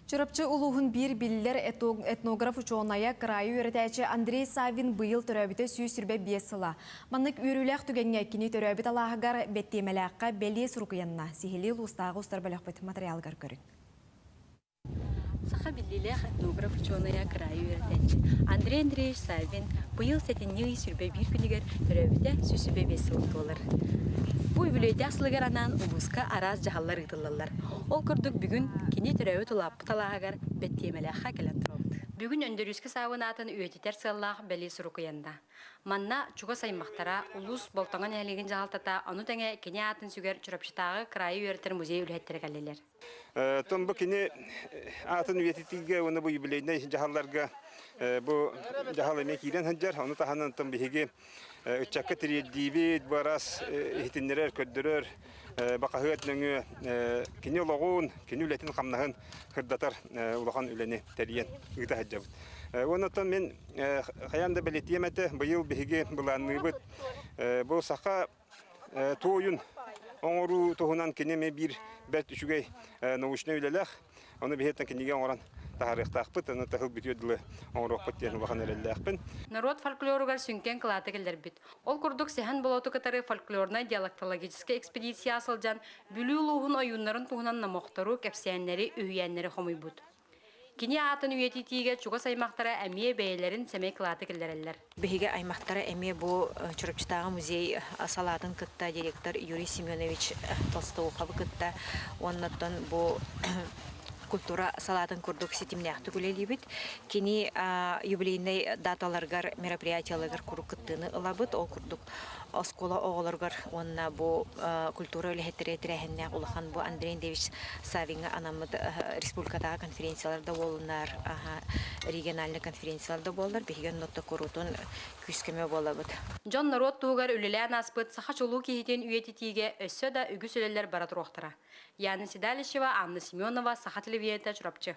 Чурапчы улууһун биир биллэр этнограф-учуонайа, кыраайы үөрэтээччи Андрей Саввин быйыл төрөөбүтэ сүүс сүүрбэ биэс сыла. Маннык үөрүүлээх түгэҥҥэ кини төрөөбүт алааһыгар Бэттиэмэлээххэ бэлиэ сурук-уйанна, сиһилии улуустааҕы устар бөлөхпүт матырыйаалыгар көрүҥ. Саха биллиилээх этнограф-учуонайа, кыраайы үөрэтээччи Андрей Андреевич Саввин быйыл сэтинньи ый сүүрбэ биир күнүгэр төрөөбүтэ сүүс сүүрбэ биэс сыла буолар. Бу үбүлүөйдээх сылыгар анаан улууска араас дьаһаллар ыытыллаллар. Ол курдук бүгүн кини төрөөбүт улааппыт алааһыгар Бэттиэмэлээххэ кэлэн турабыт. Бүгүн Өндөрүүскэ саабын аатын үйэтитэр сыаллаах бэлиэ сурукуйанна. Манна чугас аймахтара, улуус Болтоҥо нэһилиэгин дьаһалтата, ону тэҥэ кини аатын сүгэр Чурапчытааҕы кыраайы үөрэтэр музей үлэһиттэрэ кэллилэр. Оттон бу кини аатын үйэтитиигэ уонна бу юбилейнай дьаһалларга бу дьаһал эмиэ киирэн сылдьар. Ону таһынан оттон биһиги ыччакка тириэрдиибит барас иһитиннэрэр көрдөрөр бақаһыат нөҥүө кини олоҕун кини үлэтин-хамнаһын кырдатар улахан үлэни тэрийэн ыыта сылдьабыт уонна мин хайаан да бэлэтиэм этэ быйыл биһиги былаанныыбыт бу саха туойун оҥоруу туһунан кини эмиэ биир бэрт үчүгэй научнай үлэлээх. Ону биһиттэн кинигэ оҥорон таһаарыахтаахпыт, аны тыһыл бүтүө дылы оҥоруохпут диэн улахан эрэллээхпин. Норуот фольклоругар сүҥкэн кылааты киллэрбит. Ол курдук Сэһэн Болоту кытары фольклорнай-диалектологическай экспедицияҕа сылдьан, Бүлүү улууһун ойууннарын туһунан номохтору, кэпсээннэри, үһүйээннэри хомуйбут. Кини аатын үйэтитиигэ чугас аймахтара эмиэ бэйэлэрин сэмэй кылааты киллэрэллэр. Биһиги аймахтара эмиэ бу Чурапчытааҕы музей салаатын кытта директор Юрий Семенович Толстоуховы кытта уоннаттан бу культура салаатын курдук ситимнээхтик үлэлиибит. Кини юбилейнай даталаргар, мероприятиеларгар куруук кыттыыны ылабыт. Ол курдук Оскуола оҕолоругар уонна бу культура үлэһиттэрэ тэрээһиннээх улахан бу Андрей Андреевич Савиҥҥа анаммыт республикатааҕы конференциялар да буоллуннар, региональнай конференциялар да буоллар, биһиги оннотто куруутун күүс-көмө буолабыт. Дьон норуот туһугар үлэлээн ааспыт саха чулуу киһитин үйэтитиигэ өссө да үгүс үлэлэр бара туруохтара. Яна Седалищева, Анна Семенова, Саха телевидения, Чурапчы.